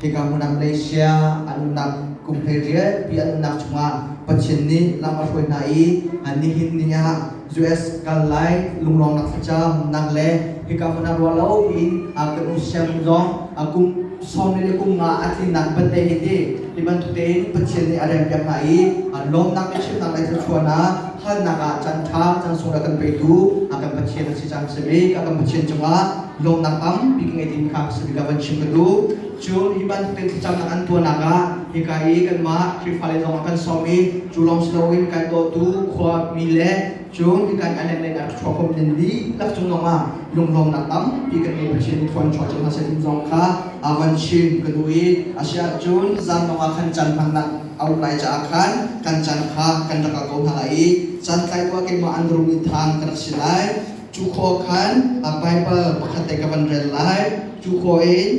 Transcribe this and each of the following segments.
Tikah hmun ah Malaysia an umnak kum hei rialpi an umnak chungah Pathian nih lam a hruai hna i an nihin ni ah US kal lai lunglawmnak thlacam nak le hika hmun ah ruah lo in kan um siang zong kum sawm le kum nga a tlinnak bante hiti hi bantuk tein Pathian nih a rempiak hna i lawmnak le chimnak le thluachuahnak halnak ah can ṭha can sung le kan peitu kan Pathian a si. caan si mi ka kan Pathian cungah lawmnak tampi ka ngei ding kha ka si ka van chim ka duh cun hi bantukin thlacamnak an tuahnak ah hika i kanmah Khrihfa le zong kan sawm i cu lawng si loin kan dawtu khua mi le cun hi kan island le in a rak chuakhawm nin dihlak cung zong ah lunglawmnak tampi kan ngei Pathian i thawn chuah cang hna sin zong kha a van chim ka duh i a si ahcun zan zong ah khan can hmangnak a uk lai caah khan kan caan kha kan rak kal ko hna lai i santlai khua keimah an rum i than ka rak si lai cu khua khan baibal pakhat te ka van rel lai cu khua in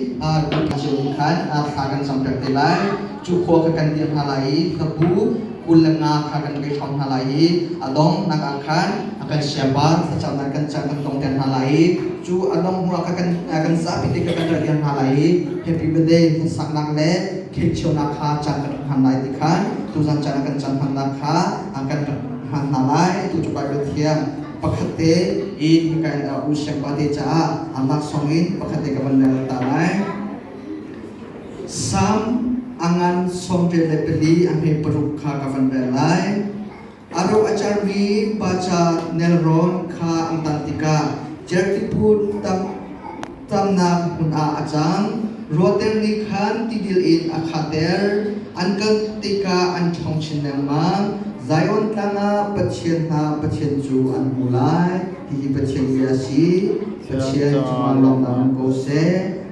cun khan thla kan cam pek te lai cu khua kha kan dir hna lai i hlabu kul le nga kha kan kai ṭhawng hna lai i a donghnak ah khan kan siapa thlacamnak kan cang kan tong ter hna lai i cu a dong hnuah kha kan kan zapi te kha kan ra dir hna lai i happy birthday saknak le Khirhchionak kha caan kan rak hman lai ti kha tuzan caan ah kan caan hmannak kha an kan rak hman hna lai. Tu cu Baibal thiang pakhat te in hika in u siangpa te caah amah song in pakhat te ka van rel ta lai. Sam angan sawm vel le pali a hme paruk kha ka van rel lai. A ro a carmi baca nelrawn kha an tan tikah jerthi phun tamnak hmun ah a cang. Ruater nih khan tidil in a khater, an kal tikah an ṭhawng chin lengmang. Zion tlang ah Pathian hna Pathian cu an hmu lai, hihi Pathian bia a si. Pathian cungah lawmhnak um ko seh.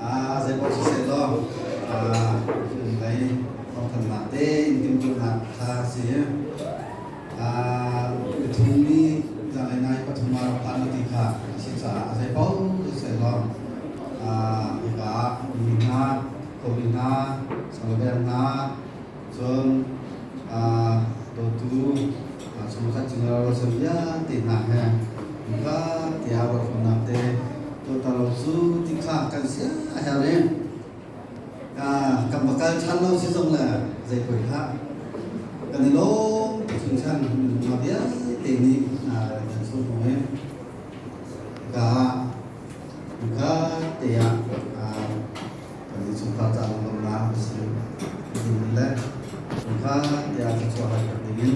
ah zeipaoh siseh law hnulei thawngthanhnak tein timhtuahnak kha si miphungmi zanlei nai pathum ah rak phan u ti kha a si caah a zeipaoh siseh law mipa mi hna kawmi hna sangabel hna Cun dawtu chung khat cung ro chan vialte hna he ka tiah ruahnak te tuatar lo cu ti kha kan sia her in kan va kal ṭhan lo si zong le zei koih hlah kan i lawm te chung chan nunna vialte nih kan chung hmu in ka ka te ah Kan i chungkhar ca lungdonnak a si. Minung le chungkhar tiah thluachuah hal ding in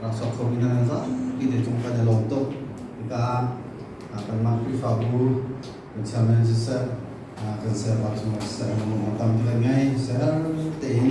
rak sok khomi hna nan zapi te cung kan i lawm tuk. Hika ah kanmah Khrihfabu kan chairman siseh, kan sayapa chungah siseh, minung a tam tuk ngei siseh, har tein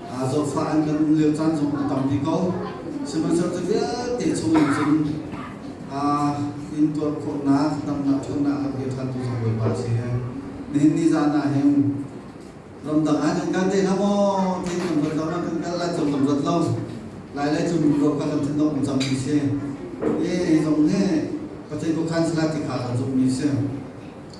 Aa zawtfah an kan um lio caan zong a tam dih ko. Sihmanhsehlaw vialte chungin cun intuar khawhnak, damnak ṭhatnak a bia ṭhantu zong Bawipa a si. Nihin ni zan ah hin ramdang ah kan kal te hlah maw ti kan rat lo, kan kal lai cang kan rat lo. Lai lai cu ruah kan lam thinok um cangmi si. Ye zong he Pathian khuakhan salah ti kha kan zummi si.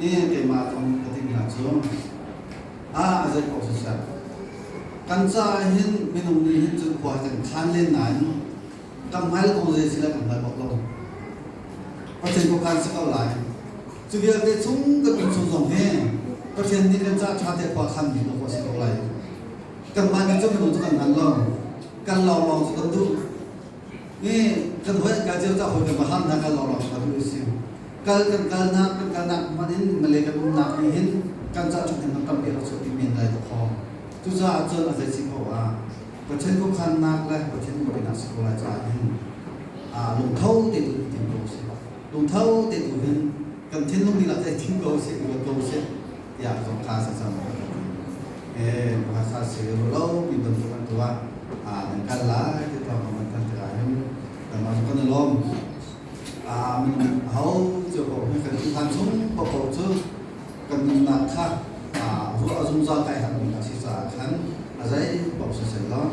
Hihi keimah thawng ka timhnak cu ah a zei ko siseh, kan caah hin minung nih hin cun khua kan khan len nain kan hngal ko zei si le kan hngal bak lo. Pathian kong kan si ko lai. Cu vialte chung kan nun chung zong hi Pathian nih kan caah ṭha te khua khan mi khua si ko lai. Kanmah nih cu minung cu kan hngal lo. Kan lawng lawng cu kan duh. kan hoih ka cio ta hote ma ham na kal lawng ka lu si kal kan kal na kan kal na man in malay kan um na ni hin kan cha chung hin tam bia so ti men lai kho tu cha chon a zai si ko a pathen ko khan nak le pathen ko bina si ko lai cha hin a lung tho te tu ti ko si Lungtho tein u hin, kan thinlung dihlak cu hei thing ko seh, uar ko seh, tiah ka phasa cang ka rak ti. Ee, hmasa sehlaw mi bantuk an tuah ah nan kal lai ti thawngam an thanh tik ahhin nangmah kan i lawm. Amen. Ahocu paoh hi kan thinphan chung paohpaoh cu kan nunnak kha ruah a zungzal kai harmi a si caah khan a zei paoh siseh law